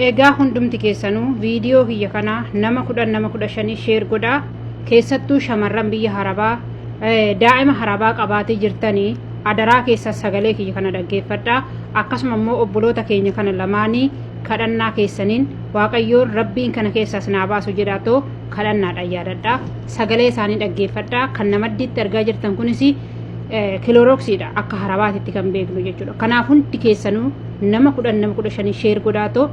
Egaa hundumti keessanuu viidiyoo kiyya kana nama kudhan nama kudha shanii sheer godhaa keessattuu shamarran biyya harabaa daa'ima harabaa qabaatee jirtanii adaraa keessaa sagalee kiyya kana dhaggeeffadhaa akkasuma immoo obboloota keenya kana lamaanii kadhannaa keessaniin waaqayyoon rabbiin kana keessaas naa baasu jedhaa too kadhannaadhaan yaadadhaa sagalee isaanii dhaggeeffadhaa kan namaddiitti argaa jirtan kunis kilooroksiidha akka harabaatitti kan beeknu jechuudha. Kanaaf hundi keessanuu nama kudhan nama kudha shanii sheer godhaatoo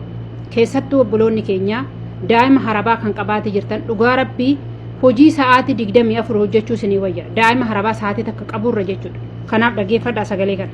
keessattuu obboloonni keenya daa'ima harabaa kan qabaatee jirtan dhugaa rabbii hojii sa'aatii digdamii afur hojjechuu isinii wayya daa'ima harabaa sa'aatii takka qaburra jechuudha. Kanaaf dhaggeeffadhaa sagalee kana.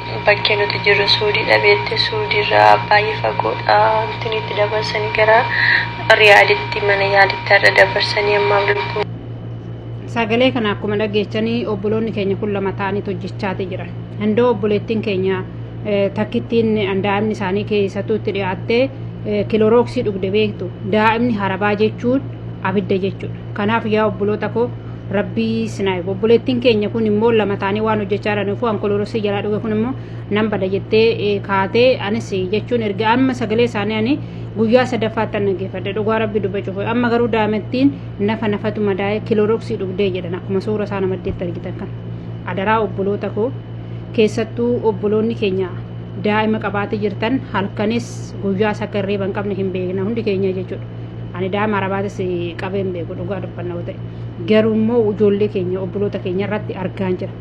Bakki nuti jirru suudiidha beekte suudiirraa baay'ee fagoodha wanti nuyi itti dabarsanii gara riyaaditti mana yaalitti har'a dabarsanii ammaaf lubbuun Sagalee kana akkuma dhageechanii obboloonni keenya kun lama ta'anii hojjechaati jiran. Handoo obboleettiin keenya eh, takkittiin daa'imni isaanii keessattuu itti dhiyaattee eh, kilorooksii dhugde beektu. Daa'imni harabaa jechuun abidda jechuudha. Kanaaf yaa obboloota koo Rabbii sinaayi obboleettiin keenya kun immoo lama taanii waan hojjechaa jiraniif waan koloorosii jalaa dhuge kun immoo nan bada jettee eh, kaatee anis jechuun erga amma sagalee isaanii ani guyyaa sadaffaatti dhaggeeffadhe dhugaa rabbi dubbachuuf amma garuu daa'imattiin nafa nafatu madaa'ee kilooroksii dhugdee jedhan akkuma suura isaa namaddeetti argitan kan adaraa obboloota koo keessattuu obboloonni keenya daa'ima qabaatee jirtan halkanis guyyaas akka hirriiba hin qabne hin beekna hundi keenya jechuudha. ani daa'ima arabaatis qabee hin beeku dhugaa dubbanna yoo ta'e garuu immoo ijoollee keenya obboloota keenya irratti argaan jira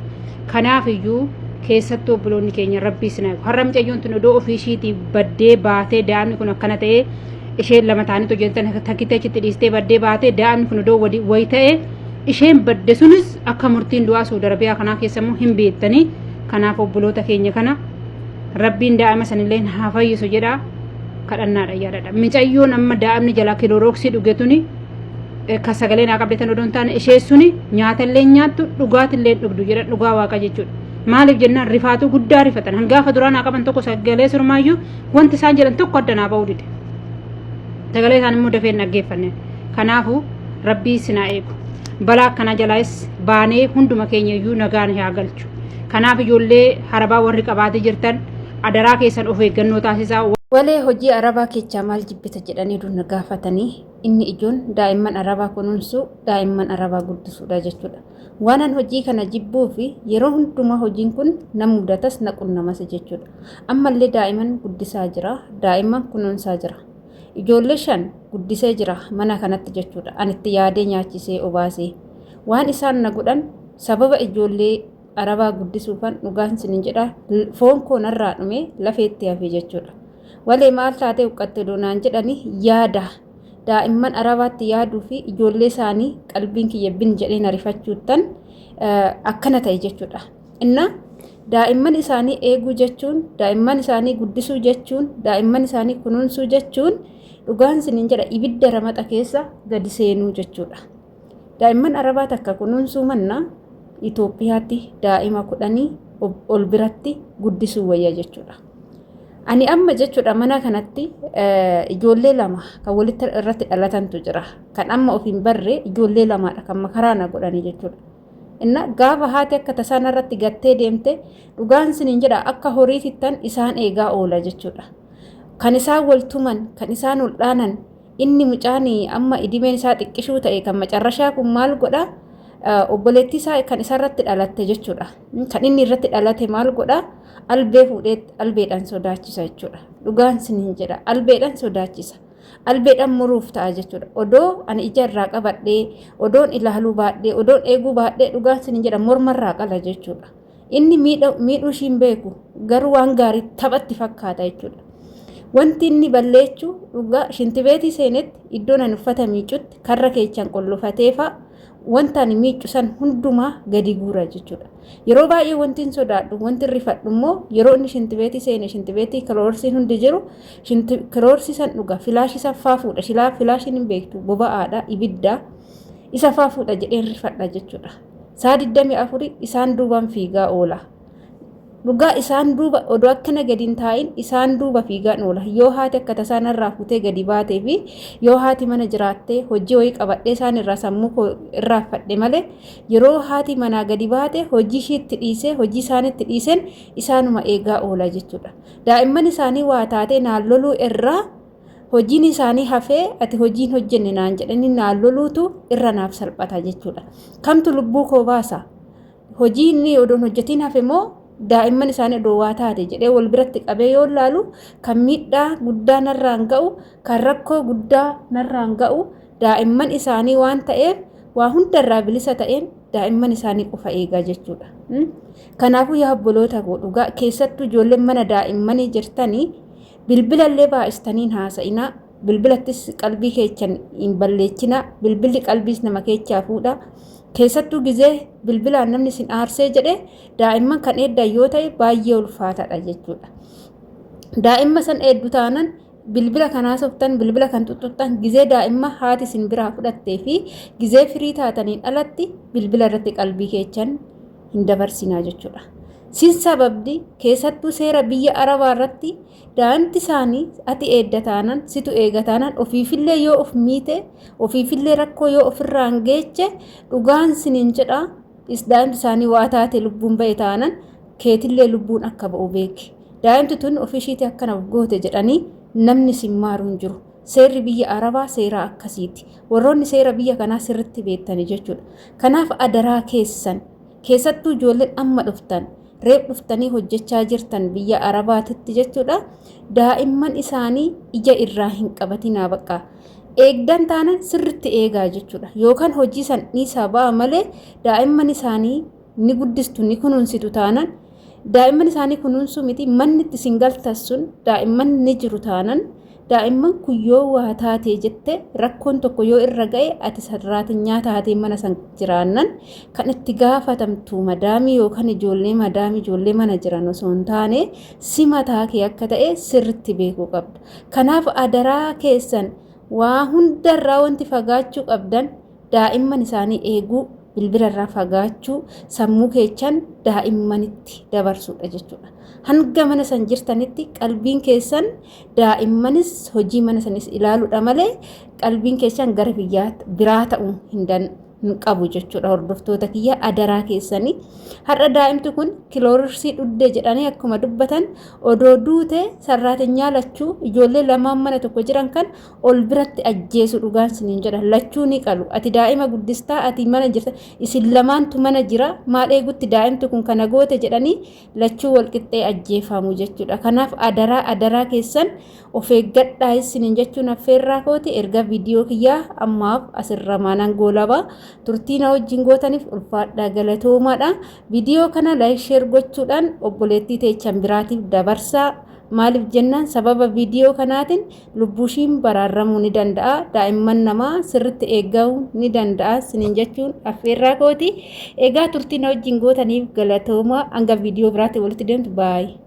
kanaaf iyyuu keessattuu obboloonni keenya rabbii sinaa har'a mucayyoon tun odoo ofii ishiitii baddee baatee daa'imni kun akkana ta'ee isheen lama ta'anitu hojjetan takkitee achitti dhiistee baddee baatee daa'imni kun odoo wadi wayi ta'ee isheen badde sunis akka murtiin du'aa suud arabiyaa kanaa keessa immoo hin beektanii kanaaf obboloota keenya kana rabbiin daa'ima sanillee haa fayyisu jedha kadhannaadha yaadadha micayyoon amma daa'imni jalaa kiloorooksii dhuge tuni ka sagalee naa qabdetan odoo hin taane ishee suni nyaatallee nyaattu dhugaatillee dhugdu jedha dhugaa waaqa jechuudha. Maaliif jennaan rifaatuu guddaa rifatan hangaafa duraa naa qaban tokko sagalee surmaayyuu wanti isaan jedhan tokko adda naa ba'uu dide. Sagalee isaan immoo dafee hin dhaggeeffanne. Kanaafuu rabbii sinaa eegu. Balaa akkana jalaas baanee hunduma keenya iyyuu nagaan haa galchu. Kanaaf ijoollee harabaa warri qabaatee jirtan adaraa keessan of eeggannoo taasisaa. Walee hojii arabaa kechaa maal jibbita jedhanii duna gaafatanii inni ijoon daa'imman arabaa kunuunsuu daa'imman arabaa guddisuudha jechuudha. Waanan hojii kana jibbuu fi yeroo hundumaa hojiin kun na mudatas na qunnamas jechuudha. Ammallee daa'iman guddisaa jira, daa'imman kunuunsaa jira. Ijoollee shan guddisee jira mana kanatti jechuudha. Anitti yaadee nyaachisee obaasee. Waan isaan na godhan sababa ijoollee Arabaa guddisuufan dhugaan isinin jedha foon koo narraa dhume lafeetti hafe jechuudha. Walee maal taatee huqqatte odoo naan jedhani yaada daa'imman arabaatti yaaduu fi ijoollee isaanii qalbiin kiyya bin jedhee na rifachuuttan akkana ta'e jechuudha. Inna daa'imman isaanii eeguu jechuun daa'imman isaanii guddisuu jechuun daa'imman isaanii kunuunsuu jechuun dhugaan isinin jedha ibidda ramaxa keessa gadi seenuu jechuudha. Daa'imman Arabaa takka kunuunsuu manna Itoophiyaatti daa'ima kudhanii ol biratti guddisuu wayya jechuudha. Ani amma jechuudha mana kanatti ijoollee lama kan walitti irratti dhalatantu jira. Kan amma of hin barre ijoollee lamaadha kan makaraa na godhanii jechuudha. Inna gaafa haati akka tasaana irratti gattee deemte dhugaan siniin jedha akka horii fittan isaan eegaa oola jechuudha. Kan isaan wal tuman, kan isaan ol dhaanan, Inni mucaan amma idimeen isaa xiqqishuu ta'e kan macarrashaa kun maal godha? Obboleettii isaa kan isarratti dhalatte jechuudha. Kan inni irratti dhalate maal godha? Albee fuudhee albeedhaan sodaachisa jechuudha. Dhugaan sin hin jedha. Albeedhaan sodaachisa. Albeedhaan muruuf ta'a jechuudha. Odoo ani ija irraa qabadhee, odoon ilaaluu baadhee, odoon eeguu baadhee dhugaan sin hin jedha mormarraa qala jechuudha. Inni miidhuu ishii hin beeku garuu waan gaarii taphatti fakkaata jechuudha. Wanti inni balleechu dhugaa shintibeetii seenetti iddoon ani uffata miicutti karra keechaan qollofateefaa wanta ani miiccu san hundumaa gadi guura jechuudha. Yeroo baay'ee wanti hin sodaadhu wanti hin rifadhu immoo yeroo inni shintibeetii seene shintibeetii kiloorsiin hundi jiru kiloorsii san dhuga filaashii san faa fuudha filaashiin hin beektu boba'aadha ibiddaa isa faa fuudha jedheen rifadha jechuudha. Saa 24 isaan duubaan fiigaa oola. Dhugaa isaan duuba odoo akkana gadi hin taa'in isaan duuba fiigaan oola. Yoo haati akka tasaa narraa fuutee gadi baatee fi yoo haati mana jiraattee hojii wayii qabadhee isaan irraa sammuu koo irraanfadhe malee yeroo haati manaa gadi baate hojii ishiitti dhiisee hojii isaanitti dhiiseen isaanuma eegaa oola jechuudha. Daa'imman isaanii waa taatee naan loluu irraa hojiin isaanii hafee ati hojiin hojjenne naan jedhanii naan loluutu irra naaf salphata jechuudha. Kamtu lubbuu koo baasa? Hojii inni odoon hojjetiin hafe moo daa'imman isaanii odoo waa taate jedhee wal biratti qabee yoo laalu kan miidhaa guddaa narraan ga'u kan rakkoo guddaa narraan ga'u daa'imman isaanii waan ta'eef waa hundarraa bilisa ta'een daa'imman isaanii qofa eegaa jechuudha. Kanaafuu yaa obboloota koo dhugaa keessattuu ijoolleen mana daa'immanii jirtanii Bilbilallee baay'istanii hin haasa'inaa. Bilbilattis qalbii keechan hin balleechinaa. Bilbilli qalbiis nama keechaa fuudha. Keessattuu gizee bilbilaan namni sin aarsee jedhe daa'imman kan eeddan yoo ta'e baay'ee ulfaataadha jechuudha. Daa'imma san eeddu taanan bilbila kan haasoftan bilbila kan xuxxuxxan gizee daa'imma haati sin biraa fudhattee fi gizee firii taataniin alatti bilbila irratti qalbii keechan hin dabarsinaa jechuudha. Sin sababdi keessattuu seera biyya Arabaa irratti daa'imti isaanii ati eedda taanan situ eega taanan ofiifillee yoo of miite ofiifillee rakkoo yoo ofirraan geeche dhugaan siniin jedha is daa'imti isaanii waa taate lubbuun ba'e taanan keetillee lubbuun akka ba'u beeki. Daa'imti tun ofishiitii akkana goote jedhanii namni sin maaru hin jiru. Seerri biyya Arabaa seeraa akkasiiti. Warroonni seera biyya kanaa sirritti beektani jechuudha. Kanaaf adaraa keessan keessattuu ijoolleen amma dhuftan reef dhuftanii hojjechaa jirtan biyya Arabaatitti jechuudha. Daa'imman isaanii ija irraa hin qabatinaa baqqa. Eegdan taanan sirritti eegaa jechuudha. Yookaan hojii san dhiisaa ba'a malee daa'imman isaanii ni guddistu ni kunuunsitu taanan daa'imman isaanii kunuunsuu miti manni itti isin galtan sun daa'imman ni jiru taanan daa'imman kun yoo waa taatee jette rakkoon tokko yoo irra ga'e ati sarraatinyaa taatee mana san jiraannan kan itti gaafatamtu madaamii yookaan ijoollee madaamii ijoollee mana jiran osoo hin taane si mataa kee akka ta'e sirritti beekuu qabda. Kanaaf adaraa keessan waa hundarraa wanti fagaachuu qabdan daa'imman isaanii eeguu bilbila irraa fagaachuu sammuu keessan daa'immanitti dabarsuudha jechuudha. Hanga mana san jirtanitti qalbiin keessan daa'immanis hojii mana sanis ilaaluudha malee qalbiin keessan gara biyyaa biraa ta'uu hin danda'u. hin qabu jechuudha hordoftoota kiyya adaraa keessanii har'a daa'imti kun kiloorsii dhudde jedhanii akkuma dubbatan odoo duute sarraatinyaa lachuu ijoollee lamaan mana tokko jiran kan ol biratti ajjeesu dhugaan siniin jedha lachuu ni qalu ati daa'ima guddistaa ati mana jirta isin lamaantu mana jira maal eegutti daa'imti kun kana goote jedhanii lachuu wal qixxee ajjeefamu jechuudha kanaaf adaraa adaraa keessan of eeggadhaa isiniin jechuun affeerraa kooti erga viidiyoo kiyyaa ammaaf asirra maanan goolabaa turtii na wajjin gootaniif ulfaadhaa galatoomaadha viidiyoo kana laayik sheer gochuudhaan obboleettii teechan biraatiif dabarsaa maaliif jennaan sababa viidiyoo kanaatiin lubbuushiin baraarramuu ni danda'a daa'imman namaa sirritti eegga'uu ni danda'a sinin jechuun affeerraa kooti egaa turtii na wajjin gootaniif galatoomaa hanga viidiyoo biraatti walitti deemtu baay'ee.